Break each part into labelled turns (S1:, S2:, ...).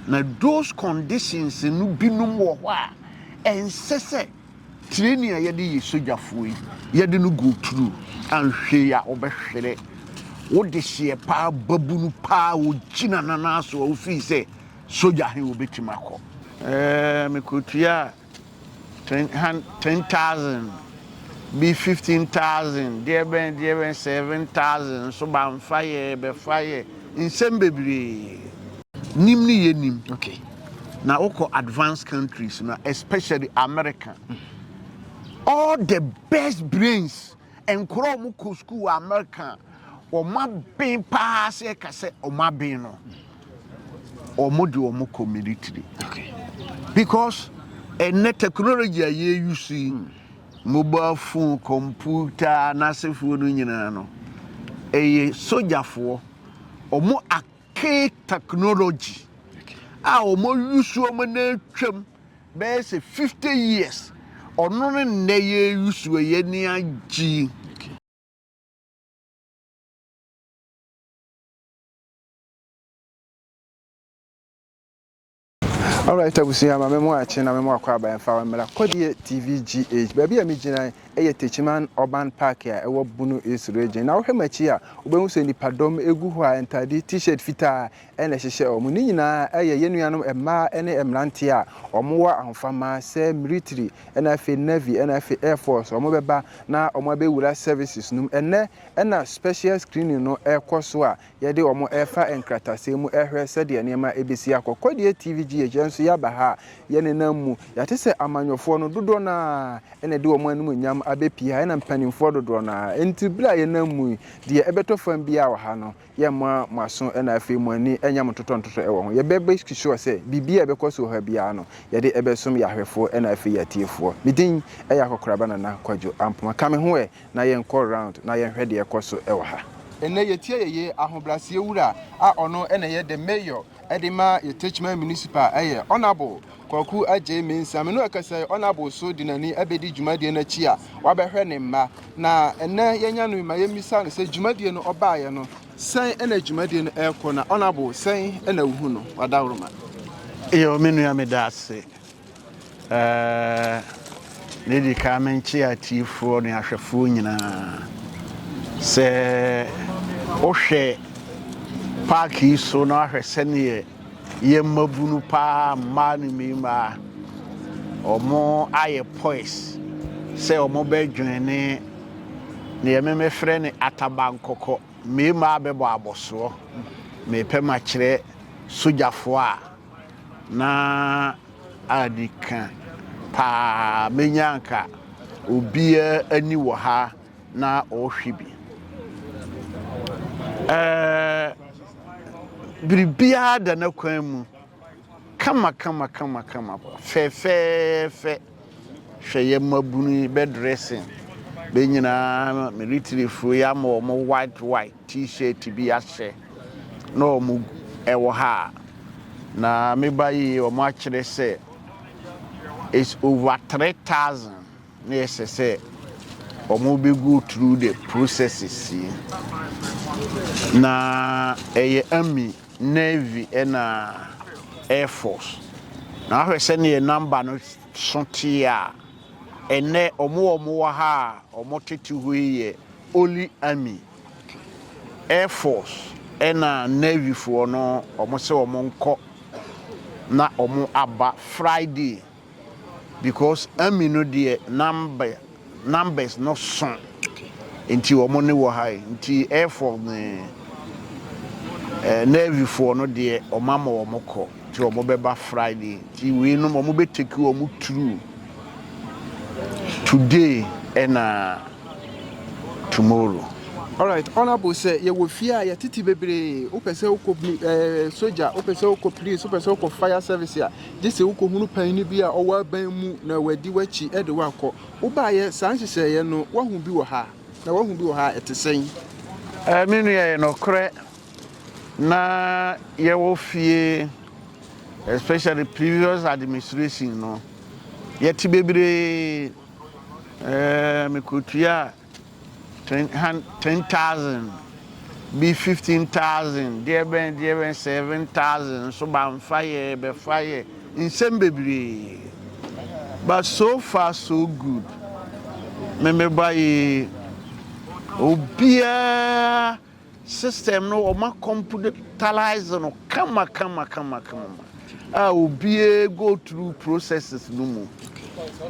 S1: Na those conditions no binom wɔ hɔ a ɛnsɛ sɛ tireni a yɛde yɛ sogyafoɔ yi yɛde no go through anhwɛ yi a ɔbɛhwere wo dehyeɛ paa babunu paa wogyina nanaa so a wofii sɛ sogya he wobɛtumi akɔ ɛɛ mekɔtua a Ten hun ten thousand bi fifteen thousand deɛ bɛn deɛ bɛn seven thousand nso ba nfa yɛ bɛfa yɛ nsɛm bebree nim ne yɛ nim okay
S2: na wokɔ
S1: advanced countries na especially America all the best brains. Nkɔraa a wɔkɔ sukuu wɔ Amerika a wɔaben paa sɛ yɛka sɛ wɔaben no, wɔde wɔn kɔ military.
S2: Because
S1: ɛnnɛ technology a yɛyi so yi, mobile phone, computer, anasefoɔ no nyinaa no, ɛyɛ sogyafoɔ. Wɔn ake technology a wɔyi so wɔn na atwam. Bɛyɛ sɛ fifty years ɔno ne nnɛ yɛ yusu a yɛ ni agye.
S2: Alright abusua ma me mo akye na me mo akɔ aba yɛmfa mmra Kɔdeɛ TV GH. Baabi a me gyina yɛ Techiman Urban Park a ɛwɔ Bono East Region. Na wohwɛ m'akyi a wobɛhu sɛ nipadɔm gu hɔ a ntaade t-shirt fitaa na ɛhyehyɛ wɔn. Ne nyinaa yɛ yɛn nuanom mmaa ne mmeranteɛ a wɔwɔ ahofama sɛ mmiritiri na afei Navy na afei Air Force, wɔbɛba na wɔabɛwura services no mu. Ɛnnɛ na special screening no rekɔ so a yɛde wɔn refa nkratasɛm mu rehwɛ sɛdeɛ nneɛma bɛsi akɔ. Kɔdeɛ TV GH, yɛn nso yɛaba ha a yɛnenam mu. Yɛate sɛ amanyɔfoɔ no dodoɔ no ara na ɛde wɔn animuonyam abɛpue ha ɛna mpanimfoɔ dodoɔ no ara. Enti berɛ a yɛnam mu yi, deɛ ɛbɛtɔ fam biara wɔ ha no, yɛmma mo aso na afei mo ani nyɛ mo ntotɔntotɔ wɔ ho. Yɛbɛmake sure sɛ biribiara a ɛbɛkɔ so wɔ ha biara no, yɛde ɛbɛsom yɛn ahwɛfoɔ na afei yɛn atiefoɔ. Me din yɛ Akɔkoraba Nana Kwadwo Ampoma. Ka me ho ɛ na yɛnkɔ round na yɛnhwɛ deɛ ɛkɔ so wɔ ha. Ɛnnɛ yɛtie yɛyɛ Ahobraseɛ Wura a ɔno na ɛyɛ The Mayor de ma yɛ Techiman Municipal yɛ Honourable Kwaku Adjei Mensah. Me no ɛkasa yi, Honourable so de n'ani ɛbɛdi dwumadie no akyi a wabɛhwɛ ne mma. Na ɛnɛ yɛnya no yi ma yɛmmisa no sɛ dwumadie no ɔbaeɛ no, sɛn ɛna dwumadie no ɛrekɔ na Honourable sɛn ɛna wohu no? Wadaworo ma. Yo, me
S1: nua meda ase. Ɛɛ, na di kan menkyea atiefoɔ ne ahwɛfoɔ nyinaa. Sɛ wohwɛ paaki yi so na wahwɛ sɛdeɛ yɛ mmabunu paa mmaa ne mmimaa wɔn ayɛ pois sɛ wɔn bɛdwene deɛ memefrɛ ne atabankɔkɔ mmimaa bɛbɔ abɔsoɔ mepɛ makyerɛ sogyafoɔ a Na adi ka paa menya anka obiara ni wɔ ha na ɔrehwɛ bi. Ɛɛ, biribiara da n'akwan mu kama kama kama kama, fɛfɛɛfɛ. Hwɛ yɛ mmabunu yi bɛ dressing bɛ nyinaa militaryfoɔ yi ama wɔn white white t-shirt bi ahyɛ na wɔn ɛwɔ ha na me ba yi wɔn akyerɛ sɛ it's over three thousand na ɛsɛ sɛ wɔn bɛ go through the processes yi na ɛyɛ ami. Navy na Air Force na wahwɛ sɛdeɛ number no so teɛ a, ɛnnɛ ɔmo a ɔmo wɔ ha a ɔmo tete hɔ yi yɛ only Army, Air Force ɛna Navy foɔ no ɔmo se ɔmo nkɔ na ɔmo aba Friday. because Amy no deɛ number numbers no so nti wɔn ne wɔ ha yi nti Air Force ne eh, Navy foɔ no deɛ wɔn ama wɔn kɔ nti wɔn bɛba Friday nti wei nom wɔn bɛ take wɔn through today ɛna tomorrow. Alright,
S2: honorable sɛ yɛwɔ fie a yɛtete bebree wopɛ sɛ wokɔ eh, soja wopɛ sɛ wokɔ police wopɛ sɛ wokɔ fire service a gye sɛ wukohunu panyin bi a ɔwɔ aban mu na wadi w'akyi de wo akɔ. Wobaeɛ saa nhyehyɛeɛ no, woahu bi wɔ ha? Na woahu bi wɔ ha a, ɛte sɛn? Ɛɛ, me
S1: nua, ɛyɛ nokorɛ. Ná yɛwɔ fie, especially previous administration no, yɛte bebree. Ɛɛ, mekɔtuaa Ten hun ten thousand bi fifteen thousand deɛ bɛn deɛ bɛn seven thousand nso bamfa yɛ bɛfa yɛ nsɛm bebree but so far so good me meba yi obiara System no wɔma computalize no kama kama kama kama ma a obiara go through processes no mu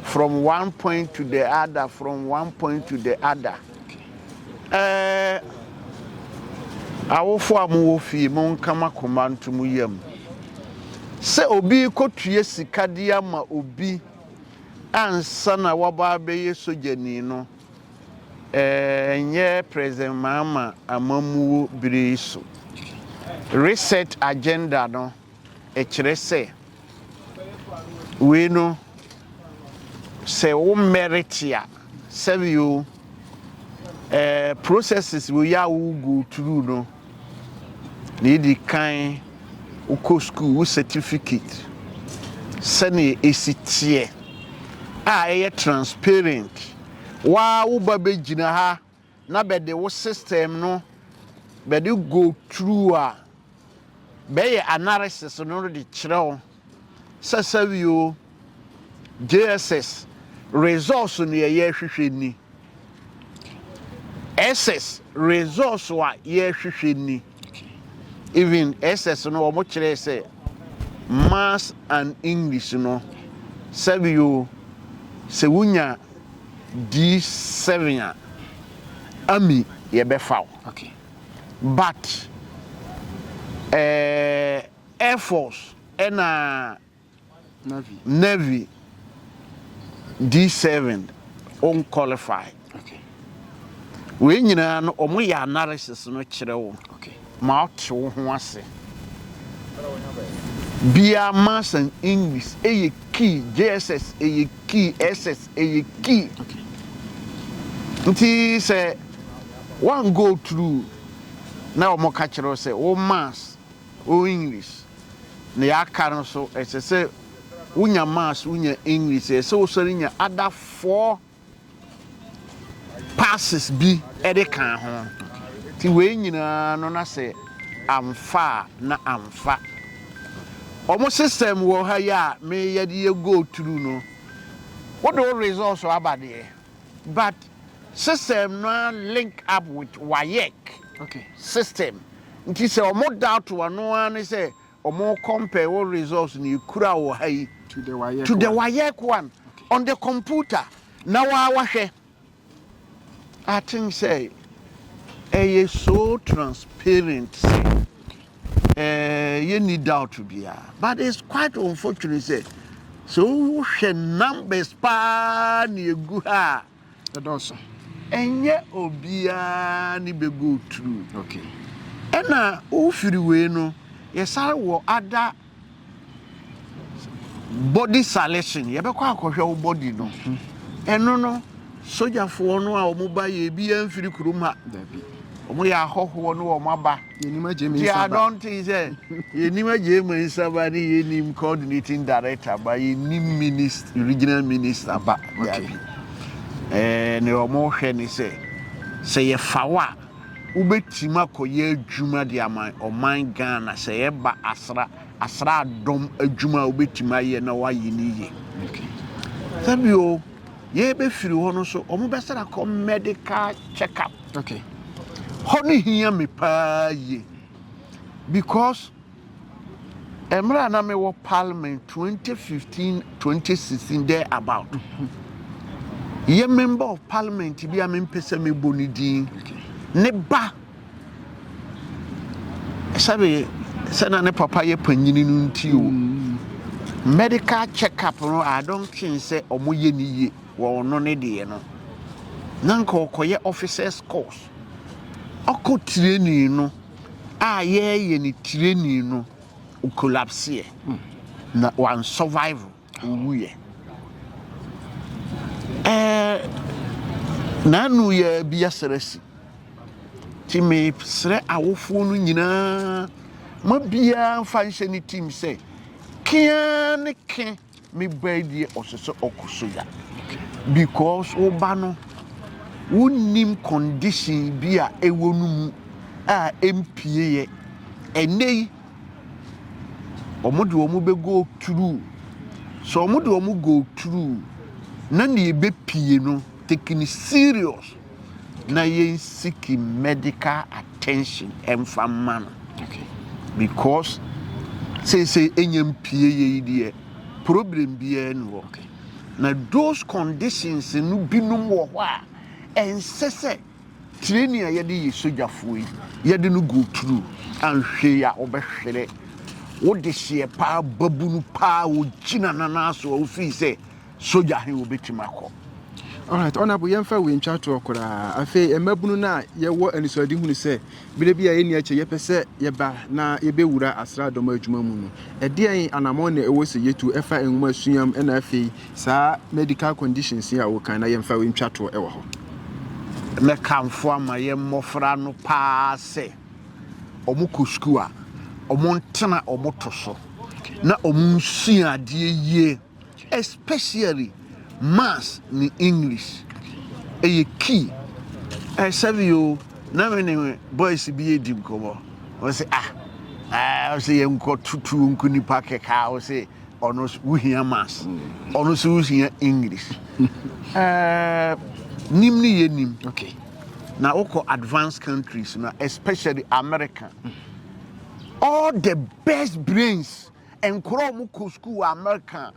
S1: from one point to the other from one point to the other. Ɛɛ awofo a mo wɔ fie mo nka ma koma nto mo yam sɛ obi kɔtua sika de ama obi ansa na waba abɛyɛ sogyani no. Ɛnyɛ President Mahama amammuo bere yi so. Reset agenda no kyerɛ sɛ wei no sɛ wo merit a sɛbi o ɛɛ processes wei a wo go through no. Nea edi kan, wokɔ sukuu, wo certificate, sɛnea esi teɛ a ɛyɛ transparent. Wo ara wo ba begyina ha na bɛde wo system no bɛde go through a, bɛyɛ analysis no de kyerɛ wo. Sɛsɛwi o, JSS results no yɛ yɛrehwehwɛ ni. SS results a yɛrehwehwɛ ni. Even SS no wɔn kyerɛ sɛ Maths and English no sɛwi o, sɛ wonya D7 a, ami yɛbɛfa wo.
S2: But
S1: ɛɛ. Air Force na Navy di seventh wɔn qualify wei nyinaa no wɔn yɛ analysis no kyerɛ wo ma ɔte
S2: wo ho
S1: ase bia maths and English ɛyɛ key JSS ɛyɛ key SS ɛyɛ key nti sɛ one go through na wɔn ka kyerɛ sɛ wo maths O English, nea aka no so, ɛsɛ sɛ wonya Mass, wonya English, ɛsɛ sɛ wosɔre nya other four passes bi de ka ho. Nti wei nyinaa no na sɛ amfa a na amfa. Wɔn system wɔ ha yi a meyɛ de yɛ go through no, wode wo results aba deɛ, But system no ara link up with WAEC system nti sɛ ɔmo doubt wo a ɛno ara ne sɛ ɔmo compare wo results no ekura wɔ ha yi to the
S2: WAEC one
S1: on the computer na waa wahwɛ. I think sɛ ɛyɛ so transparent sɛ eh, yɛnni doubt biara but it's quite unfortunate sɛ sɛ wohwɛ numbers paa ne ɛgu ha a ɛdɔɔso
S2: ɛnyɛ
S1: obiara ne bɛgo tru okay.
S2: ɛna
S1: wofiri wei no yɛsare wɔ ada Body salison, yɛbɛkɔ akɔhwɛ wo body no. Ɛno no, sogyafoɔ no a wɔn ba yɛ ebi amfiri kurom ha. Wɔn
S2: yɛ ahɔhoɔ
S1: no wɔn aba. Yɛnim agye me nsaba. Ti
S2: adɔnten sɛ
S1: yɛnim agye me nsaba ne yɛnim coordinating director ba yɛnim minist regional minister ba. Dabi.
S2: Ɛɛ
S1: ne wɔn hwɛ ne sɛ sɛ yɛfa wo a wobɛtim akɔyɛ adwuma de ama ɔman Ghana sɛ ɛba asra asra dɔm adwuma a wobɛtim ayɛ na wɔayɛ no yie.
S2: Sɛ bio
S1: yɛbɛfiri hɔ no so wɔn bɛsra kɔ medical check up.
S2: Hɔ no
S1: hia me paa yie because. Mmerɛ a na me wɔ parliament twenty fifteen twenty sixteen there about yɛ member of parliament bi a me mpɛ sɛ me bɔ ne din ne ba sɛbi sɛ na ne papa yɛ panyini no nti o mm. medical check up no I don't think sɛ ɔmo yɛ ne yie wɔ ɔno ne deɛ no na nka ɔkɔyɛ officers course ɔkɔ training no. a yɛreyɛ no tirani no collapseɛ na one survival owuiɛ ɛɛ nanu yɛ bi asarasi ti me srɛ awofoɔ no nyinaa ma biara nfa nhyɛ ne tim sɛ kea ne kea Me ba yi deɛ ɔsɛ sɛ ɔkɔ soja because wo ba no wonnim condition bi a ɛwɔ no mu a ɛmpie yɛ ɛnɛ yi wɔn de wɔn bɛ go through sɛ wɔn de wɔn go through na nea ɛbɛpie no taking serious na yɛn siki medical attention ɛnfa mma no
S2: because
S1: seesei ɛnyɛ mpie yɛ yi deɛ problem biara ni hɔ na
S2: those
S1: conditions no binom wɔ hɔ a ɛnsɛ sɛ training a yɛde yɛ sogyafoɔ yi yɛde no go through anhwɛ yi a wɔbɛhwerɛ wode hyeɛ paa babunu paa wɔgyina nana so a wofii sɛ Sogya he wobetumi akɔ. Alright,
S2: Honourable, yɛmfa wei ntwa toɔ koraa. Afei, mmabunu no a yɛwɔ anisoadehunu sɛ berɛ bi a ɛnni akyɛ yɛpɛ sɛ yɛba na yɛbɛwura asraadɔm adwuma mu no, ɛdeɛn anammɔn na ɛwɔ sɛ yɛtu ɛfa nwomasua mu na afei saa medical conditions yi a wokan na yɛmfa wei ntwa toɔ wɔ hɔ?
S1: Mɛkamfo ama yɛn mmɔfra no pa ara sɛ wɔkɔ sukuu a, wɔntena wɔn to so na wɔnsua adeɛ yie. Especially maths ne English ɛyɛ key. Ɛɛ sɛbi yoo na me ne boys bi edi nkɔmɔ. Ɔsi ah ɛɛ ɔsi yɛn nkɔ tutu nko nipa kɛkɛ a ɔsi ɔno wuhia maths ɔno so wuhia English. Ɛɛ nim ne yɛ nim. Okay. Na
S2: wokɔ
S1: advanced countries na especially America. All the best brains. Nkɔraa a wɔkɔ sukuu wɔ Amerika a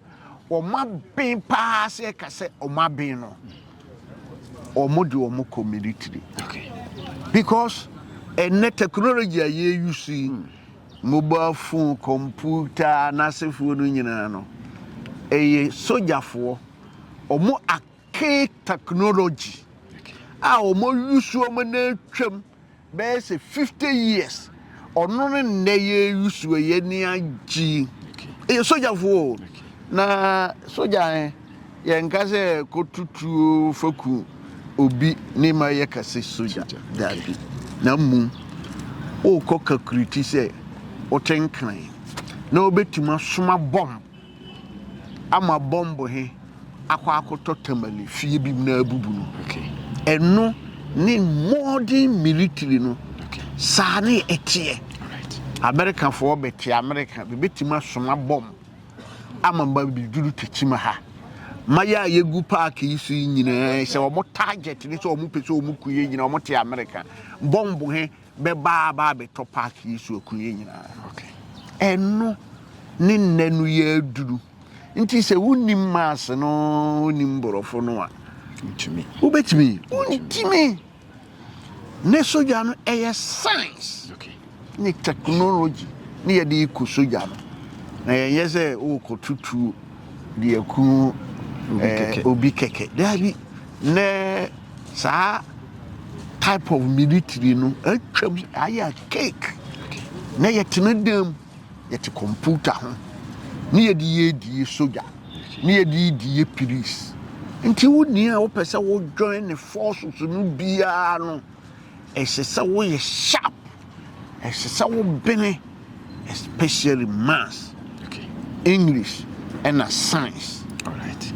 S1: wɔaben paa sɛ yɛka sɛ wɔaben no, wɔde wɔn kɔ military.
S2: Because
S1: ɛnnɛ technology a yɛyi so yi, mobile phone, computer, anasefoɔ no nyinaa no, ɛyɛ sogyafoɔ. Wɔn ake technology a wɔyi so wɔn nan twam. Bɛyɛ sɛ fifty years ɔno ne nnɛ yɛ yusu a yɛ ni agye yi ɛyɛ sogyafo o na sogya ɛ yɛn nka sɛ kotutuo faku obi ne ma yɛ kase sogya daabi na mmom wokɔ kakuriti sɛ wote nkran na wobɛtumi asoma bɔm ama bɔmbo he akɔ akɔtɔ tamale fie bi mu na abubu no. Ɛno ne modern military no. Saa
S2: ne
S1: ɛteɛ.
S2: Amerikafoɔ bɛte
S1: Amerika, bɛbɛtumi asoma bɔm ama ma bɛduru Tekyima ha. Ma yɛ a yɛgu paake yi so yi nyinaa, sɛ wɔn target ne sɛ wɔn pɛ sɛ wɔn ku yɛ nyinaa, wɔn te Amerika. Bɔmbo he bɛba aba abɛtɔ park yi so akunie nyinaa
S2: ɛno
S1: ne nnɛ no yɛ aduru nti sɛ wonim mass no wonim borɔfo no a
S2: wobɛtumi
S1: wontumi ne sogya no ɛyɛ science ne
S2: technology
S1: ne yɛde kɔ sogya no na yɛnyɛ sɛ wokɔtutuo de aku obi kɛkɛ daabi na Saa type of military no atwam ayɛ cake na yɛtena dan mu yɛte computer ho ne yɛde yɛ die soja ne yɛde yɛ die police nti wo nea wopɛ sɛ wo join ne forces no biara no Ɛsɛ sɛ woyɛ sharp. Ɛsɛ sɛ wo bene especially maths, okay.
S2: English
S1: ɛna science. Alright.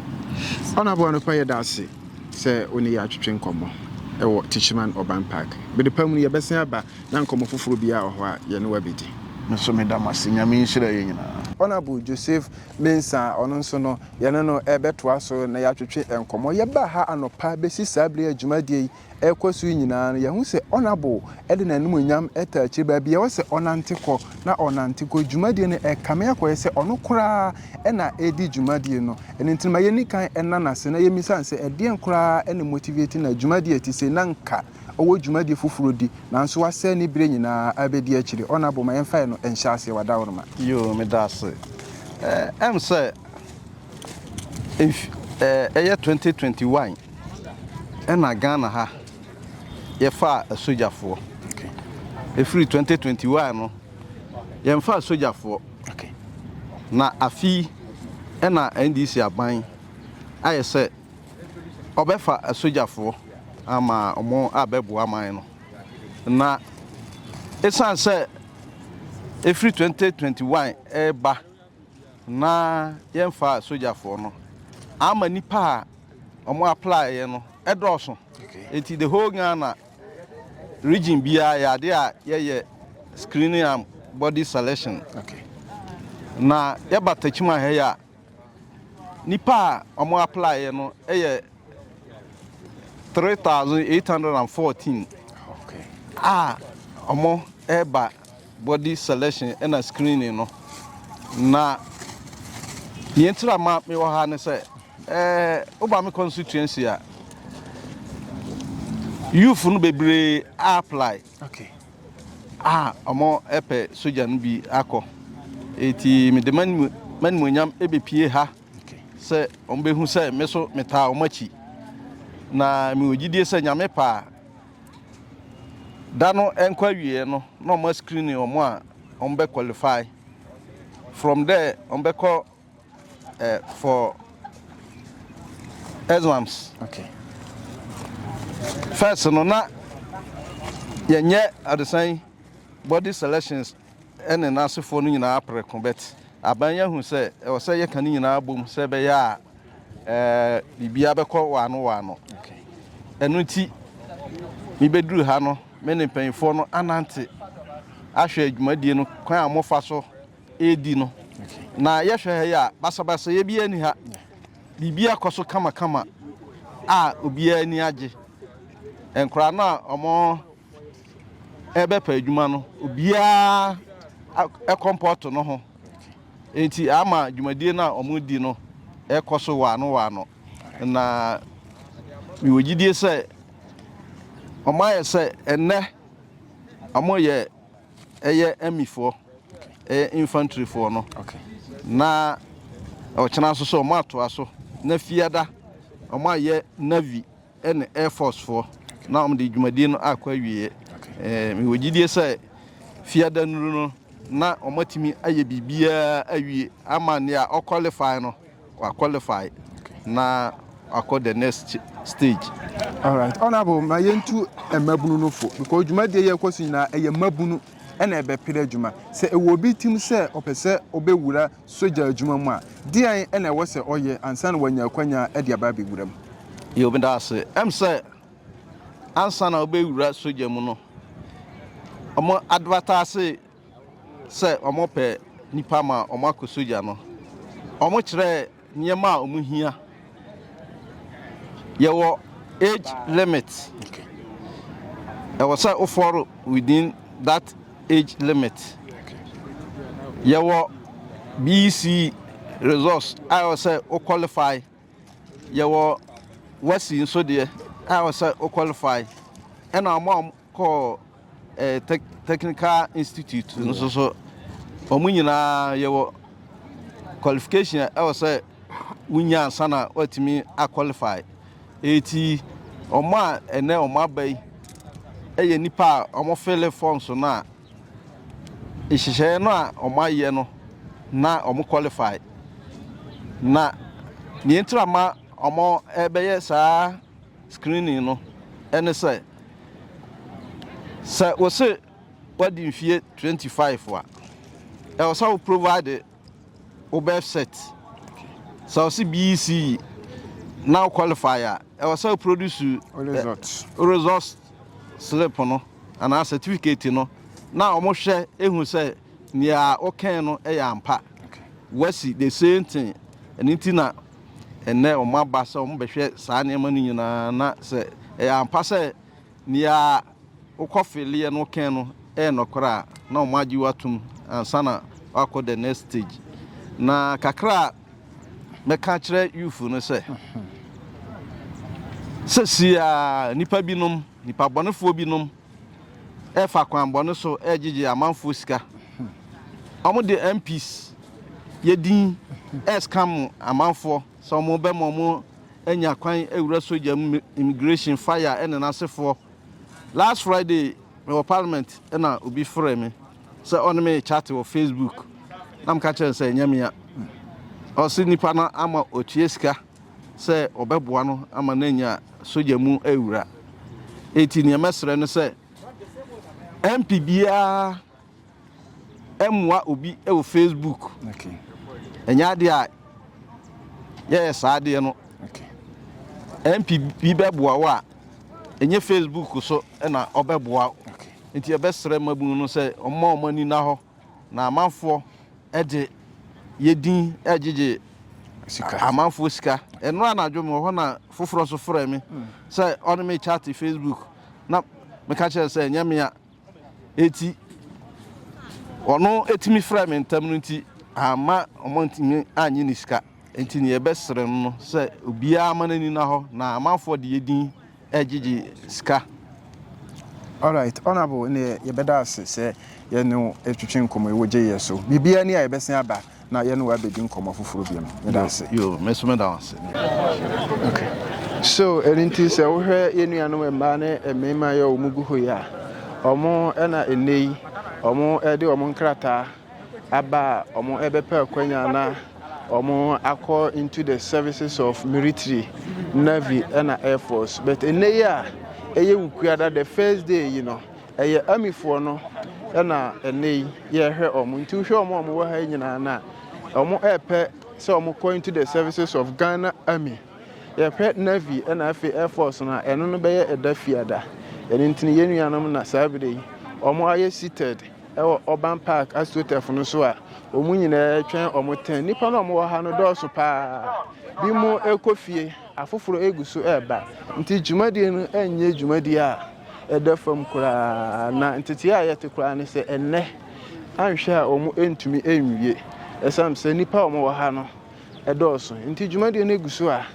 S2: Ɔnabɔ anɔpa yɛ daase sɛ wo ne yɛ atwetwe nkɔmmɔ ɛwɔ Tichiman Urban Park. Bede pa mu no yɛbɛsen aba na nkɔmmɔ foforɔ biara wɔ hɔ a yɛne wabɛdi. Me so meda mo
S1: ase. Nyame nhyira yɛ nyinaa. Honourable Joseph
S2: Mensah ɔno nso no yɛne no ɛbɛtoa so na yɛatwetwe nkɔmmɔ. Yɛbaa ha anɔpa bɛsi saa bere a dwumadie yi ɛrekɔ so yi nyinaa no, yɛahu sɛ Honourable de n'animuonyam taa akyire. Baabiara a ɛwɔ sɛ ɔnante kɔ na ɔnante kɔ. Dwumadie no ɛkame akɔyɛ sɛ ɔno koraa na ɛredi dwumadie no. Ɛno nti no ma yɛnni kan nna no ase na yɛmmisa no sɛ ɛdeɛn koraa na ɛmotivate no a dwumadie a ɛte sei na nka ɔwɔ dwumadie foforɔ di nanso wasɛe ne berɛ nyinaa abɛdi akyire. Honourable ma yɛmfa ɛno nhyɛ aseɛ. Wadaworoma. Yoo, meda ase.
S3: Ɛm sɛ ɛyɛ twenty twenty one. Ɛna Ghana ha yɛfaa asogyafoɔ
S2: ɛfiri
S3: 2021 no yɛnfaa asogyafoɔ
S2: na
S3: afei ɛna NDC aban ayɛ sɛ ɔbɛfa asogyafoɔ ama ɔmo a bɛboa man no na ɛsiane sɛ ɛfiri 2021 ɛɛba na yɛnfaa asogyafoɔ no ama nipa a Ɔmo apply yɛ no ɛdɔɔso nti the whole Ghana region biaa yɛ adeɛ a yɛyɛ screening and body selection
S2: na
S3: yɛba Techiman ha yi a nipa a ɔmo apply yɛ no yɛ three thousand eight hundred and fourteen
S2: a
S3: ɔmo ɛɛba body selection ɛna screening no na neɛ ntira ma mewɔ ha ne sɛ. Eh woba me constituency a youth no bebree a apply okay
S2: a
S3: ɔmo ɛpɛ soja no bi akɔ eti mede manimuonyam ebepie ha sɛ
S2: ɔmo behu
S3: sɛ me so metaa ɔmo akyi na mewɔ gyidie sɛ nyame pɛ a da no ɛnkɔ awieɛ no na ɔmo ascreen ɔmo a ɔmo bɛ qualify from there ɔmo bɛkɔ uh, for exams. Okay. First, no na yɛnyɛ adesan body selections ɛne n'asefoɔ no nyinaa prɛko bet aban yɛ hu sɛ ɛwɔ sɛ yɛka no nyinaa bom sɛ ɛbɛyɛ a ɛɛ biribiara bɛkɔ waano waano
S2: ɛno nti
S3: mebɛduru ha no me ne mpanyinfoɔ no anante ahwɛ adwumadie no kwan a mofa so redi no. Na yɛhwɛ
S2: ha yi a,
S3: basabasayɛ biara ni ha. Biribiara kɔ so kamakama a obiara ani agye. Nkwadaa no a wɔrebɛpɛ adwuma no, obiara kɔmpɔto no ho. Enti ama dwumadie no a wɔredi no kɔ so waano waano. Na mewɔ gyidie sɛ wɔayɛ sɛ ɛnnɛ wɔyɛ Ɛyɛ Amifoɔ, ɛyɛ infantry foɔ no. Na ɔkyena nso sɛ ɔmo atoa so na Fiada ɔmo ayɛ Navy ɛne Air Force foɔ na ɔmo de dwumadie no akɔ awieɛ. Ɛɛ mewɔ gyidie sɛ Fiada nnuru no na ɔmo atumi ayɛ biribiara awie ama nea ɔ qualify no. Wa qualify na wakɔ the next stage. Alright
S2: honourable ma yɛn tu mmabunu no fo because dwumadie yɛ kɔ so nyinaa ɛyɛ mmabunu ɛna ɛbɛpere adwuma sɛ ɛwɔ obi tim sɛ ɔpɛ sɛ ɔbɛwura sogya adwuma mu a deɛn ɛna ɛwɔ sɛ ɔyɛ ansa na wanya akwanya ɛde aba abɛwura mu. Yo meda ase
S3: ɛm sɛ ansa na wobɛwura sogya mu no ɔmo advertise sɛ wɔpɛ nnipa ma wɔakɔ sogya no, wɔkyerɛɛ nneɛma a wɔhia. Yɛwɔ age limit. Ɛwɔ sɛ wofɔro within that age limit.
S2: Yɛwɔ
S3: BEC results a ɛwɔ sɛ wo qualify. Yɛwɔ WASSCE nso deɛ a ɛwɔ sɛ wo qualify. Ɛna wɔn a kɔɔ Technical Institute no so so. Wɔn nyinaa yɛwɔ qualification a ɛwɔ sɛ wonya ansa na woatumi aqualify. Eti wɔn a ɛnɛ wɔn aba yi yɛ nnipa a wɔfele forms no a nhyehyɛeɛ no a wɔayɛ no na wɔn qualify. Na nea ɛntira ma wɔbɛyɛ saa screening no ne sɛ, sɛ wose woadi mfeɛ 25 a, ɛwɔ sɛ wo provide wo birth cert. Sɛ wose BEC na wo qualify a, ɛwɔ sɛ wo produce wo results slip no anaa certificate no na wɔhwɛ ehu sɛ nea wokɛn no yɛ ampa. Wasi the same thing, ɛno nti na Ɛnnɛ wɔaba sɛ wɔbɛhwɛ saa nneɛma no nyinaa na sɛ ɛyɛ ampa sɛ nea wokɔfeleeɛ no kɛn no yɛ nɔkorɛ a, na wɔagye wo atom ansa na woakɔ the next stage. Na kakra a mɛka akyerɛ youth no sɛ, sɛsi a nnipa binom, nnipa bɔnefoɔ binom ɛfa kwan bɔne so ɛregyegye amanfoɔ sika. Wɔn de MPs yɛ din ɛrescam amanfoɔ sɛ wɔn bɛma wɔn anya kwan awura sogya mu, immigration, fire ɛne n'asefoɔ. Last Friday mewɔ parliament ɛna obi frɛ me sɛ ɔne me chat wɔ Facebook na meka kyerɛ no sɛ ɛnyɛ mea. Ɔse nipa no ama ɔtua sika. sɛ ɔbɛboa no ama no anya sogya mu awura. Enti nea mɛsrɛ ne sɛ MP biara mmoa obi wɔ Facebook.
S2: Ɛnyɛ adeɛ
S3: a yɛyɛ saa adeɛ no. MP bi bɛboa wo a, ɛnyɛ Facebook so na ɔbɛboa wo. Nti yɛbɛsrɛ mmabunu no sɛ ɔmma wɔn ani nna hɔ. Na amanfoɔ de yɛ din gyegye
S2: amanfoɔ sika.
S3: Ɛno anadwo me wɔ hɔ na foforɔ nso frɛ me hmm. sɛ ɔne me chat Facebook na meka kyerɛ sɛ ɛnyɛ mea eti ɔno etimi frɛ me ntam no nti ama ɔmo ntumi anyi ne sika nti ne yɛbɛsrɛ no sɛ obiara ama n'ani na hɔ na amanfoɔ de yɛ din ɛgyegye sika.
S2: Alright honourable neɛ yɛbɛda ase sɛ yɛne wo twetwe nkɔmmɔ yi wogye yɛ so biribiara ni a yɛbɛsen aba na yɛne wo abɛdi nkɔmmɔ foforɔ biom yɛda ase. Yo me nso meda wo ase.
S3: Okay.
S2: So ɛno nti sɛ wohwɛ yɛn nuanom mmaa ne mmarima yɛ wɔn gu hɔ yi a wɔn na ɛnɛ yi wɔn de wɔn nkrataa aba a wɔn ɛbɛpɛ akwanya na Wɔakɔ into the services of military, navy ɛna air force but ɛnɛ yi a ɛyɛ wukuada the first day yi no ɛyɛ amifoɔ no ɛna ɛnɛ yi yɛhwɛ wɔn nti wohwɛ wɔn a wɔn wɔ ha yi nyinaa no a wɔn ɛɛpɛ sɛ wɔn kɔ into the services of Ghana army yɛhwɛ navy ɛna afei air force no a ɛno no bɛyɛ ɛda fiada ɛno nti yɛn nuanom na saa abiri yi wɔn ayɛ seated. wɔ Auburn Park AstroTurf no so a wɔn nyinaa retwɛn wɔn tɛn. Nnipa no a wɔwɔ ha no dɔɔso paa. Binom rekɔ fie, afoforo regu so reba. Nti dwumadie no nyɛ dwumadie a ɛda fam koraa. Na ntetee a yɛte koraa ne sɛ ɛnnɛ anhwɛ a wɔrentumi nwie ɛsiane sɛ nnipa a wɔwɔ ha no dɔɔso. Nti dwumadie no gu so a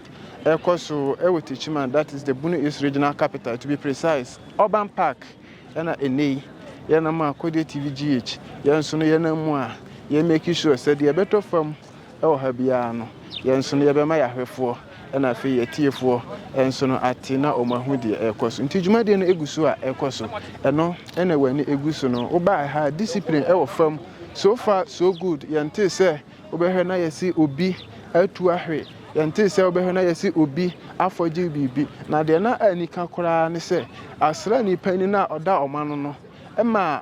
S2: ɛrekɔ so wɔ Techiman, that is the Bono East Regional Capital, to be precise, Auburn Park Ɛna ɛnnɛ yi, yɛnam a Kodeɛ TV GH, yɛn nso no yɛnam mu a yɛ make sure sɛ deɛ ɛbɛtɔ fam wɔ ha biara no, yɛn nso no yɛbɛma yɛahwɛfoɔ ɛna afei yɛ tiefoɔ nso no ate na wɔn ahu deɛ ɛrekɔ so. Nti dwumadie no gu so a ɛkɔ so. Ɛno na wɔn ani gu so no. Wobaeɛ ha a, discipline wɔ fam. So far so good, yɛntee sɛ Wobɛhwɛ na yɛse obi atu ahwe. Yɛntee sɛ wobɛhwɛ na yɛse obi afɔgye biribi. Na deɛ na anika koraa ne sɛ asraani panin no a ɔda wɔn ano no ma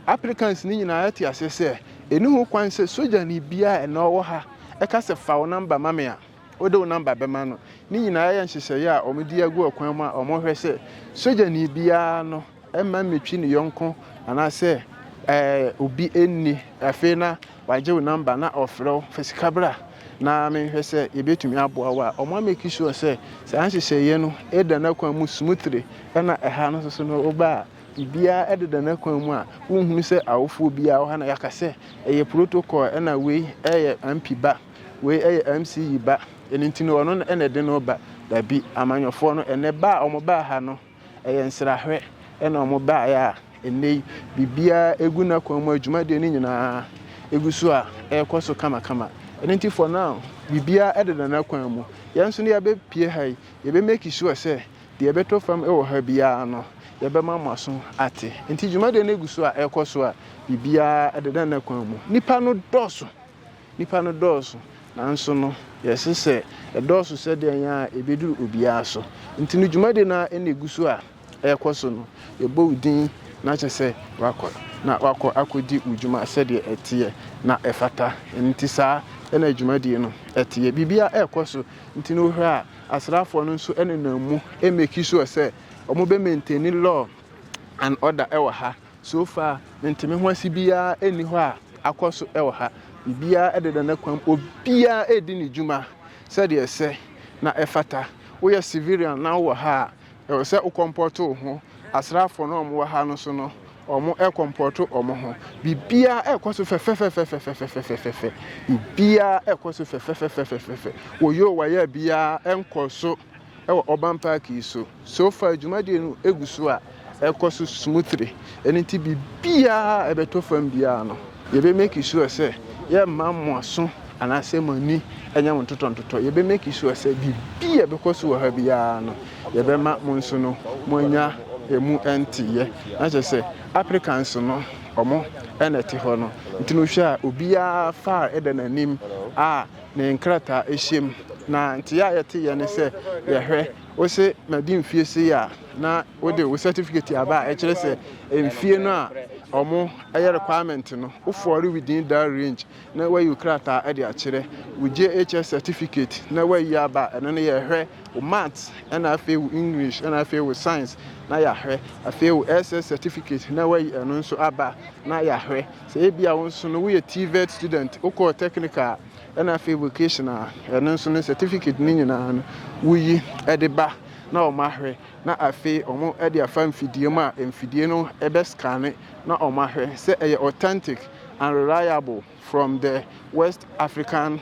S2: applicants no nyinaa te aseɛ sɛ ɛnni ho kwan sɛ sogyani biara a ɛnnɛ ɔwɔ ha ka sɛ fa wo number ma me a, Wode wo nɔmba bɛma no. Ne nyinaa yɛ nhyehyɛeɛ a wɔde agu ɔkwan mu a wɔhwɛ sɛ sogyani biara no mma mmetwi ne yɔnko anaasɛ ɛɛ obi nni. Afei na wagye wo nɔmba na ɔfrɛ wo fa sika bra na menhwɛ sɛ yɛbɛtumi aboa wo a, wɔameki sure sɛ saa nhyehyɛeɛ no da n'akwan mu smoothly. Ɛna ɛha no nso so no woba a biribiara deda n'akwan mu a wonhunu sɛ awofoɔ biara wɔ ha na yɛaka sɛ ɛyɛ protocol ɛna wei yɛ ampi ba. Wei ɛyɛ MCE ba, ɛno nti no ɔno na ɛde no reba. Dabi, amanyɔfoɔ no, ɛnɛ ba a wɔbaa ha no, ɛyɛ nsrahwɛ na wɔbaeɛ a ɛnnɛ yi biribiara ɛgu n'akwan mu a, dwumadie no nyinaa ɛgu so a ɛrekɔ so kamakama. Ɛno nti for now, biribiara ɛdeda n'akwan mu. Yɛn nso no yɛbɛpue ha yi, yɛbɛ make sure sɛ deɛ ɛbɛtɔ fam wɔ ha biara no, yɛbɛma mo aso ate. Nti dwumadie no gu so a ɛrekɔ so a, biribiara ɛdeda n'akwan mu. Nnipa no dɔɔso. Nnipa no dɔɔso, nanso no yɛse sɛ ɛdɔɔso sɛdɛn a ɛbɛduru obiara so. Nti no dwumadi no ara na ɛgu so a ɛrekɔ so no, yɛbɔ wo din na kyerɛ sɛ woakɔ na woakɔ akɔdi wo dwuma sɛdeɛ ɛteɛ na ɛfata. Ɛno nti saa na dwumadie no teɛ. Biribiara rekɔ so, nti no wohwɛ a asraafoɔ no nso nenam mu make sure sɛ wɔbɛ maintain law and order wɔ ha. So far me nte me ho ase biara nni hɔ a akɔ so wɔ ha. Biribiara deda ne kwan mu. Obiara redi ne dwuma sɛdeɛ ɛsɛ na ɛfata. Woyɛ civilian na wowɔ ha a, ɛwɔ sɛ wo kɔmpɔto wo ho. Asraafoɔ no a wɔwɔ ha no nso no, wɔkɔmpɔto wɔn ho. Biribiara rekɔ so fɛfɛfɛfɛfɛfɛfɛfɛfɛfɛ. Biribiara rekɔ so fɛfɛfɛfɛfɛfɛfɛfɛ. Wɔyɛ o wɔyɛ a biara nkɔ so Wɔ Urban Park yi so, so far dwumadie no gu so a ɛkɔ so smoothly, ɛno nti biribiara a ɛbɛtɔ fam biara no yɛbɛ make sure sɛ yɛmma mo aso anaasɛ mo ani nyɛ mo ntotɔntotɔ, yɛbɛ make sure sɛ biribi a ɛbɛkɔ so wɔ ha biara no yɛbɛma mo nso no moanya ɛmu nteeɛ, na kyerɛ sɛ Africans no wɔn na ɛte hɔ no nti no wohwɛ a obiara far da n'anim a ne nkrataa ehyiam, na ntseyɛ a yɛtseyɛ nye sɛ yɛhwɛ ose madi mfie sei a na wode wo certificate aba a ɛkyerɛ sɛ mfie no a ɔmo ɛyɛ requirement no wo fɔɔre within that range na wayi wo krataa ɛde akyerɛ wo JHS certificate na wayi aba a ɛno no yɛhwɛ wo maths ɛna afei wo English ɛna afei wo science na yɛahwɛ afei wo SS certificate na wayi ɛno nso aba na yɛahwɛ Sɛ ebia wo nso no woyɛ TVET student, wokɔɔ technical a, ɛna afei vocational a, ɛno nso no certificate no nyinaa no woyi de ba na wɔahwɛ na afei wɔde afa mfidie mu a mfidie no bɛ scanne na wɔahwɛ sɛ ɛyɛ authentic and reliable from the West African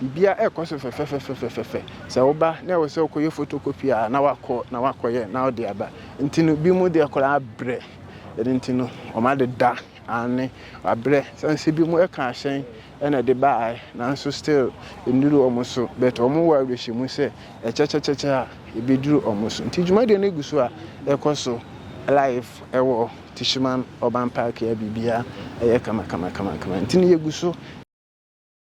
S2: Biribiara rekɔ so fɛfɛfɛfɛfɛfɛ. Sɛ woba na ɛwɔ sɛ wokɔyɛ photocopy a, na wakɔ na wakɔyɛ na wode aba. Nti no, binom deɛ koraa brɛ. Ɛno nti no, wɔadeda, aane, wɔabrɛ. Sane sɛ binom ɛka ahyɛn na ɛde baeɛ, nanso still ɛnnuru wɔn so. But wɔwɔ awerɛhyɛmu sɛ ɛkyɛkyɛkyɛkyɛ a, ɛbɛduru wɔn so. Nti dwumadie no gu so a ɛkɔ so live ɛwɔ Tishman Urban Park a biribiara ɛyɛ kama kama kama kama. Nti no yɛgu so.